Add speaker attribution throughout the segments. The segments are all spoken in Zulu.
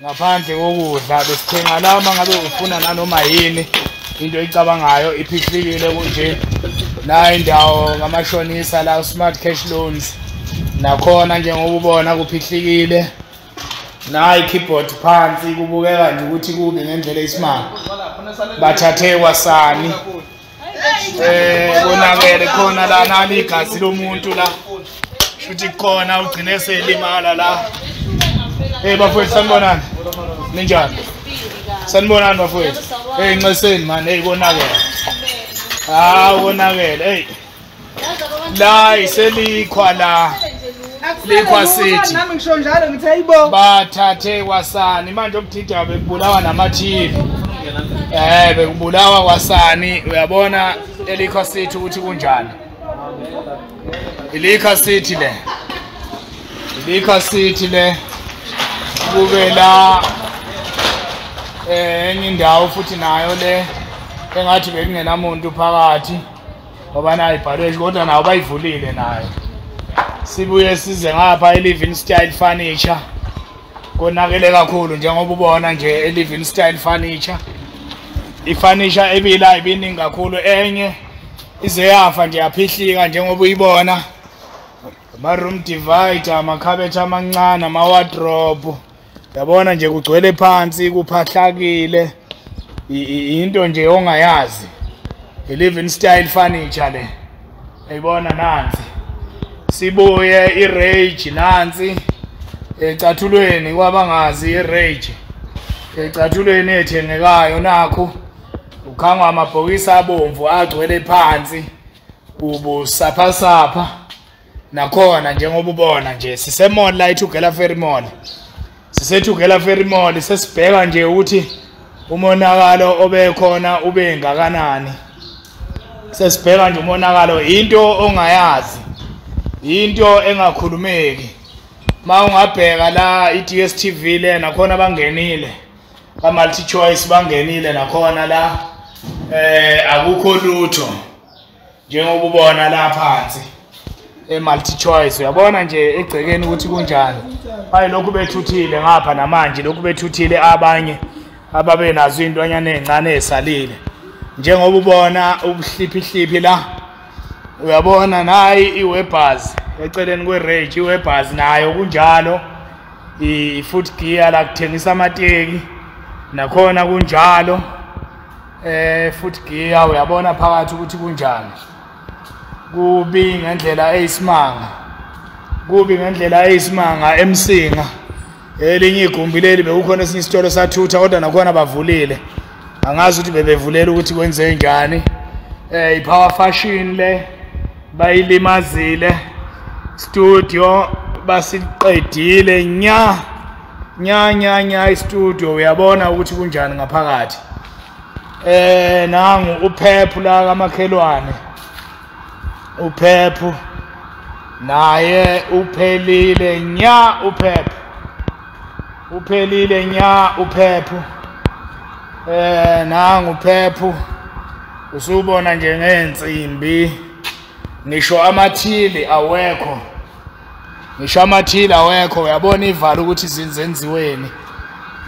Speaker 1: ngaphandle kokudla besithenga la uma ngabe ufuna nanoma yini into eyicabangayo iphihlikile kunje nayo indawo ngamashonisa la smart cash loans nakhona njengoba ubona kuphihlikile nayi keyboard phansi kubukeka nje ukuthi kubi ngendlela isimanga bathathe kwasani Eh konakele khona la nali igazi lomuntu la. Shuthi khona ugcine selimala la. Eh bafowethu sanibonani. Ninjani? Sanibonani bafowethu. Hey nxeseni man hey konakele. Ah konakele hey. la iselikhwa la likhwa sithi nami ngisho njalo ngithe
Speaker 2: ayibo bathathe
Speaker 1: kwasani manje obuthinta bekubulawa namathivi eh bekubulawa kwasani uyabona elikhwa sithi ukuthi kunjani ilikha sithi le ilikha sithi le kube la eh enye indawo futhi nayo le engathi bekungenamuntu phakathi ngoba nayo ibhalwe kodwa nawo bayivulile nayo sibuye size ngapha e-living style furniture konakele kakhulu njengoba ubona nje e-living style furniture ifurniture ebila ibiningi kakhulu enye ize yafa nje yaphihlika njengoba uyibona ama-room divider amakhabethe amancane ama-wardrobe yabona nje kugcwele phansi kuphahlakile into nje ongayazi i-living style furniture le ayibona nansi sibuye i-rage nansi ecathulweni kwabangazi i-rage ecathulweni ethengekayo nakho ukhangwa amabhokisi abomvu agcwele phansi ubusaphasapha nakhona njengoba ubona nje sisemall la ithugela ferry mall sisethugela ferry mall sesibheka nje ukuthi umonakalo obekhona ube ngakanani sesibheka nje umonakalo into ongayazi into engakhulumeki ma ungabheka la i-DSTV le nakhona bangenile ba multi choice bangenile nakhona la eh akukho lutho njengoba ubona la phansi e-multi choice uyabona nje egcekeni ukuthi kunjani hayi lokhu bethuthile ngapha namanje lokhu bethuthile abanye ababe nazo intwanyana ezincane ezisalile njengoba ubona ubuhliphihliphi la uyabona nayi iwebhaz eceleni kwe-rage iwebhaz nayo kunjalo i-foot gear la kuthengisa amateki nakhona kunjalo eh futhi giya uyabona phakathi ukuthi kunjani kubi ngendlela eyisimanga kubi ngendlela eyisimanga emsinga elinye igumbi leli bekukhona esinye isitolo sathutha kodwa nakhona bavulile angazi ukuthi bebevulela ukuthi kwenze njani eh ipower fashion le bayilimazile studio basiqedile nya nya nya nya istudio uyabona ukuthi kunjani ngaphakathi eh nangu uphephu la kamakhelwane uphephu naye uphelile nya uphephu uphelile nya uphephu eh nangu uphephu usubona nje ngeensimbi ngisho amathili awekho ngisho amathile awekho uyabona ivala ukuthi zenziweni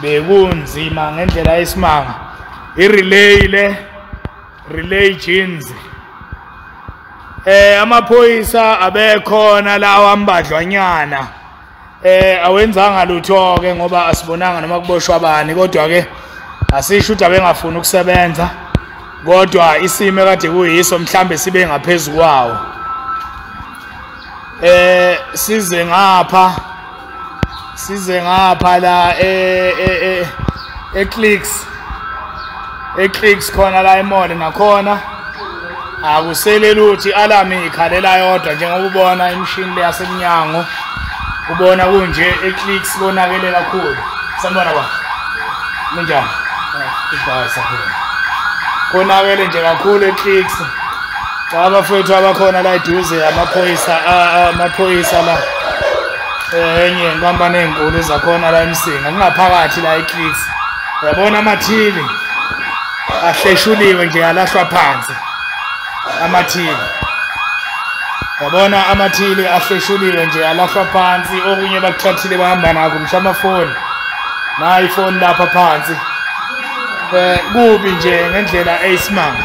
Speaker 1: bekunzima ngendlela yesimanga irelay le relay jeans eh amaphoyisa abekhona lawa mbadlwanyana eh awenzanga lutho ke ngoba asibonanga noma kuboshwa bani kodwa ke asisho ukuthi abengafuni ukusebenza kodwa isimo kade kuyiso mhlambe sibe ngaphezulu kwawo eh size ngapha size ngapha la e e e, e clicks e clicks khona la emole nakhona akusele luthi alarm ikhalela yodwa njengoba ubona imshini le yasemnyango ubona kunje e clicks konakele kakhulu sanibona ba kunjani ibhasa khona konakele nje kakhulu e clicks Cha abafowethu abakhona la eduze amaphoyisa amaphoyisa la eh, enye inkampani enkulu zakhona la eMsinga kungaphakathi la eClicks yabona amathili ahleshuliwe nje alahlwa phansi amathili yabona amathili ahleshuliwe nje alahlwa phansi okunye bakuthathile bahamba nako ngisho amafoni nayi ifoni lapha phansi um kubi nje ngendlela eyisimanga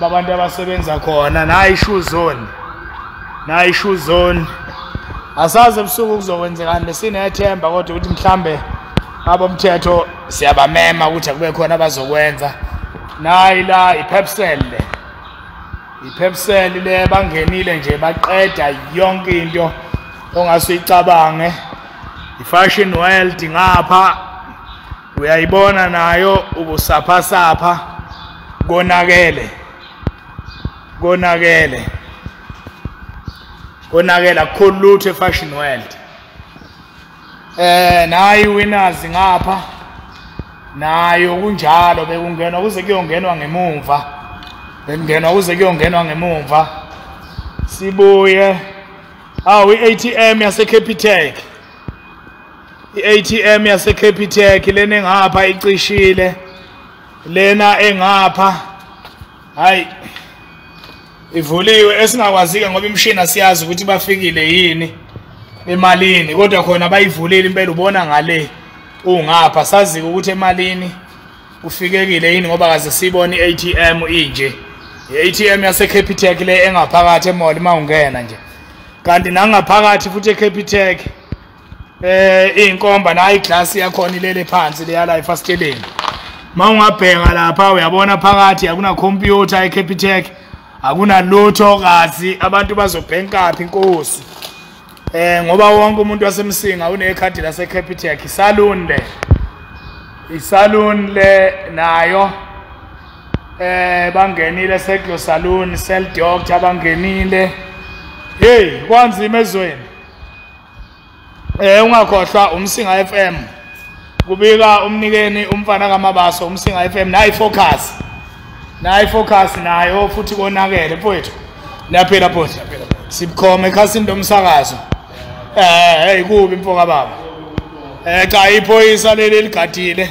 Speaker 1: babantu abasebenza khona nayi shoe zone nayi shoe zone asazi ebusuku kuzokwenzekani besinethemba kodwa ukuthi mhlambe abomthetho siyabamema ukuthi akube khona abazokwenza nayi la iphepsel le iphepsel le bangenile nje baqeda yonke into ongase uyicabange ifashion world ngapha uyayibona nayo ubusaphasapha konakele konakele konakele akukho lutho efashion world eh nayi winners ngapha nayo kunjalo bekungenwa kuze kuyongenwa ngemumva bekungenwa kuze kuyongenwa ngemumva sibuye awu i-atm yasecapitek i-atm yaseCapitec lena engapha icishile lena engapha hayi ivuliwe esingakwazike ngoba imishini asiyazi ukuthi bafikile yini emalini kodwa khona bayivulile impela ubona ngale ungapha sazike ukuthi emalini ufikekile yini ngoba kaze sibone i-atm inje i-atm yaseCapitec le engaphakathi emall uma ungena nje kanti nangaphakathi futhi eCapitec eh inkomba nayi glass yakhona ilele phansi leyala efasteleni ma ungabheka lapha uyabona phakathi akuna computer eCapitec akunalutho kazi abantu bazobhenkaphi inkosi eh ngoba wonke umuntu wasemsinga unekhadi lase Capitec salon le isalon le nayo eh bangenile seclo salon cell doctor bangenile hey kwanzima ezweni Eh ungakhohlwa umsinga FM. Kubika umnikeni umfana kaMabaso umsinga FM nayi focus. Nayi focus nayo futhi konakele mfowethu. Niyaphila futhi. Sibukhoma ekhasini lomsakazo. Eh hey kubi mfoka baba. Eh cha iphoyisa leli ligadile.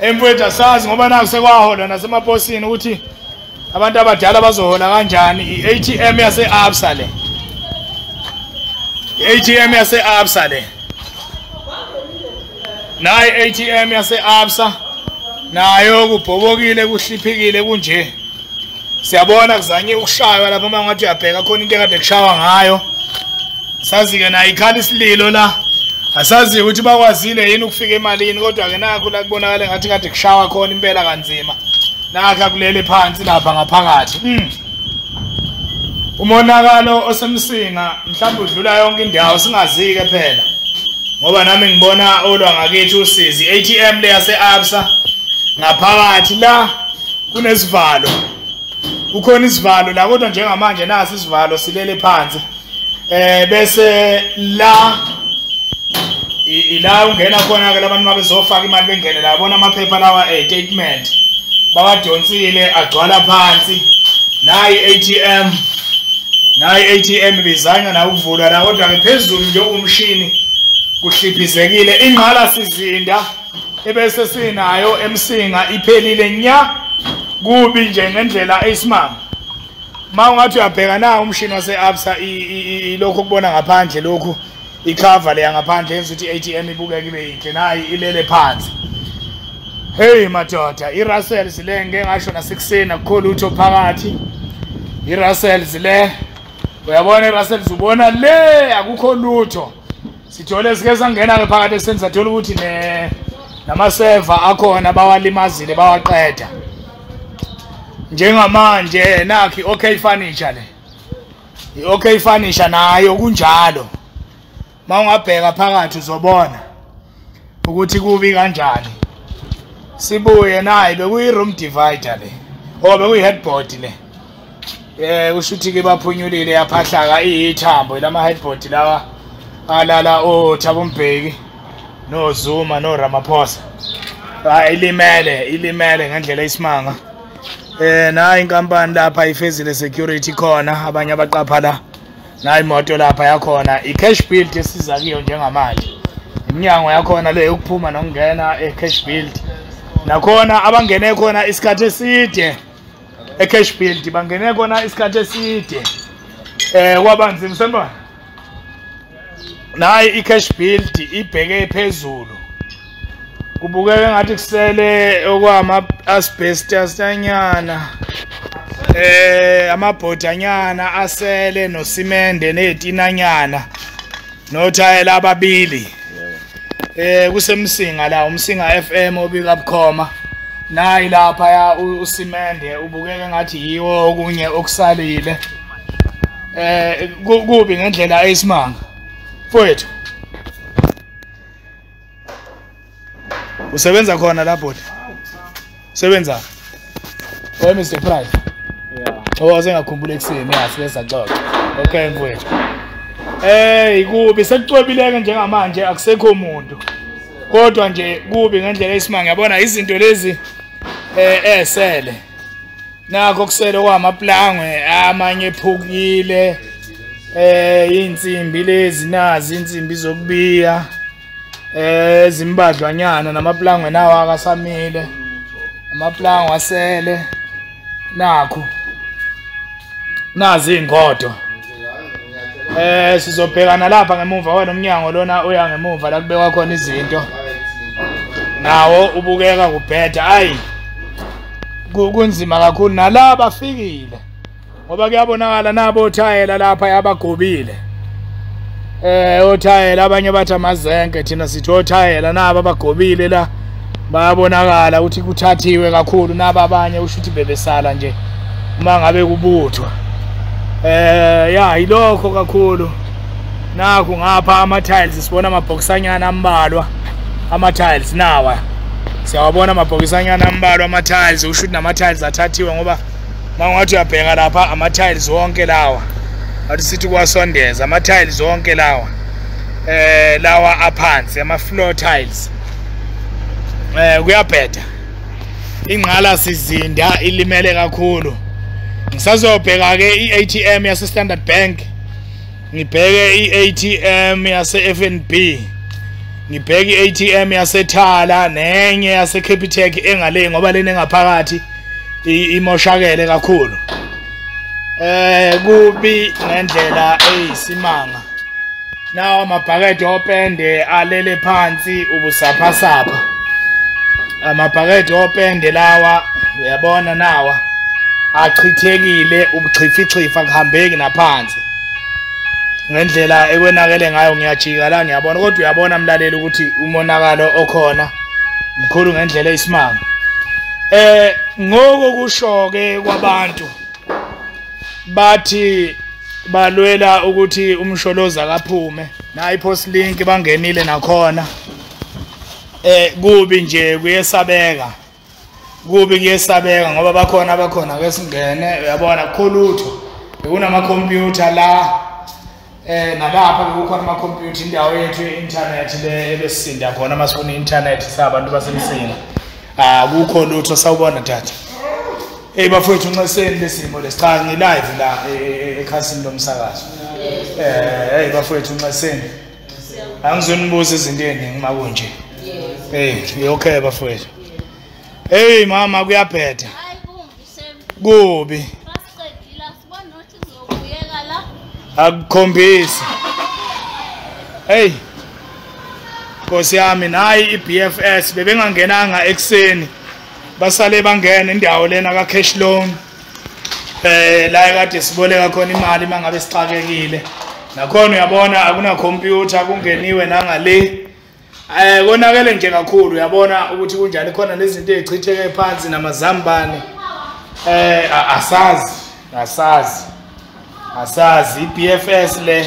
Speaker 1: emfowethu asazi ngoba naku sekwaholwa nasemaposini ukuthi abantu abadala bazohola kanjani i-atm yase-absa le i-atm yase-absa le nayo i-atm yase-absa nayo kubhobokile kuhliphikile kunje siyabona kuzanye ukushaywa lapho uma ngathi uyabheka khona into ekade kushawa ngayo sazi-ke naye ikhala isililo la asazi ukuthi bakwazile yini ukufika emalini kodwa-ke nakho la kubonakale ngathi kade kushawa khona impela kanzima nakha kulele phansi lapha ngaphakathi mm. umonakalo osemsinga mhlawumbe udlula yonke indawo singazi-ke phela ngoba nami ngibona olwa ngakithi usizi i-atm le yase-absa ngaphakathi la kunesivalo kukhona isivalo la kodwa njengamanje nasi isivalo silele phansi eh bese la ila ungena khona ke labantu mabezofaka imali bengene la bona amaphepha lawa eh statement bawadonsile agcwala phansi nayi ATM nayi ATM bizanywa na ukuvula la kodwa ke phezulu nje umshini kuhliphizekile ingqala sizinda ebese sinayo emsinga iphelile nya kubi nje ngendlela eyisimanga ma ungathi uyabheka na umshini wase-absa ilokhu okubona ngaphandle lokhu ikhava leya ngaphandle yenza ukuthi i-atm ibukeke ibe yinhle nayi ilele phansi heyi madoda i-russells le ngike ngasho nasekuseni akukho lutho phakathi i-russells le uyabona i-russells ubona le akukho lutho sithole sike sangena-ke phakathi eseni sathola ukuthi namaseva akhona bawalimazile bawaqeda njengamanje nakhi okay furniture le i-okay furniture nayo kunjalo uma ungabheka phakathi uzobona ukuthi kubi kanjani sibuye naye bekuyi-room divider le or bekuyi-headboard le Eh usho ukuthi ke baphunyulile yaphahlaka ithambo lama headboard lawa alala o Thabo Mbeki no Zuma no Ramaphosa. Hayi ah, ilimele ilimele ngendlela isimanga. Eh na inkampani lapha ifezile security khona abanye abaqapha la. Na imoto lapha yakhona i cash build esiza kiyo njengamanje. Iminyango yakhona le yokuphuma nokungena e cash build. Nakhona abangene khona isikhathi eside. ecash build bangene kona isikhathi eside eh kwabanzi msembana nayi icash build ibheke phezulu kubukeka ngathi kusele okwama asbestos anyana eh amabhodanyana asele nosimende netinanyana nothayela ababili eh kusemsinga la umsinga FM obika bukhoma nayi lapha ya usimende ubukeka ngathi yiwo okunye okusalile eh kubi ngendlela eyisimanga mfowethu usebenza khona la bhodi sebenza oy mr price yeah. owa oh, sengakhumbula ekuseni ya sibe saxoxa okay mfowethu Hey kubi sekucwebileke njengamanje akusekho umuntu kodwa nje kubi ngendlela esimanga yabona izinto lezi eh esele eh, nakho kusele kwamaplangwe amanye ephukile eh insimbi lezi nazi insimbi zokubiya eh zimbadlwanyana namaplangwe nawo akasamile amaplangwe asele nakho nazi ingodo Eh sizobhekana lapha ngemuva wena umnyango lona uya ngemuva la kubekwa khona izinto. Nawo ubukeka kubheda ayi. Kunzima kakhulu nala bafikile. Ngoba kuyabonakala nabo thayela lapha yabagobile. Eh othayela abanye bathi amazenke thina sithi othayela naba bagobile la bayabonakala ukuthi kuthathiwe kakhulu naba abanye usho ukuthi bebesala nje uma ngabe kubuthwa eh ya ilokho kakhulu naku ngapha ama tiles sibona amabhokisanyana ambalwa ama tiles nawa siyawabona amabhokisanyana ambalwa ama tiles usho ukuthi nama tiles athathiwe ngoba mangathi uyabheka lapha ama-tiles wonke lawa athi sithi kuwasondeza ama-tiles wonke lawa eh lawa aphansi ama-floor tiles eh kuyabheda ingqala sizinda ilimele kakhulu ngisazobheka-ke i-atm yase-standard bank ngibheke i-atm yase-fnb ngibheke i-atm yasethala nenye yase-capitec engale ngoba lena engaphakathi imoshakele kakhulu eh kubi ngendlela eyisimanga nawo amabhakede opende alele phansi ubusaphasapha amabhakede opende lawa uyabona nawa achithekile ubuchifichifa kuhambeki naphansi ngendlela ekwenakele ngayo ngiyajika la ngiyabona kodwa uyabona mlaleli ukuthi umonakalo okhona mkhulu ngendlela eyisimanga eh ngoko kushoke kwabantu bathi balwela ukuthi umsholozi akaphume nayi post link bangenile nakhona eh kubi nje kuyesabeka kubi kuyesabeka ngoba bakhona abakhona ke singene uyabona kukho lutho bekunamakhompyutha la eh nalapha bekukhona amakhompyutha indawo yethu ye-intanethi le ebesisinda khona uma sifuna i-intanethi sabantu basemsinga akukho ah, lutho sawubona tata eyi bafowethu unxeseni lesimo lesi cha ngilive la e, e, e, ekhasini lomsakazo um eyi bafowethu unxeseni angizonibuza izinto eziningi uma kunje hey okay bafowethu hey mama kuyabheda kubi akukhombisi hey Nkosi yami nayi iBFS bebengangenanga ekseni basale bangena indawo lena ka cash loan eh la kade siboleka khona imali mangabe sixakekile nakhona uyabona akuna computer kungeniwe nangale eh konakele nje kakhulu uyabona ukuthi kunjani khona lezinto ezichitheke phansi namazambane eh asazi asazi asazi iBFS le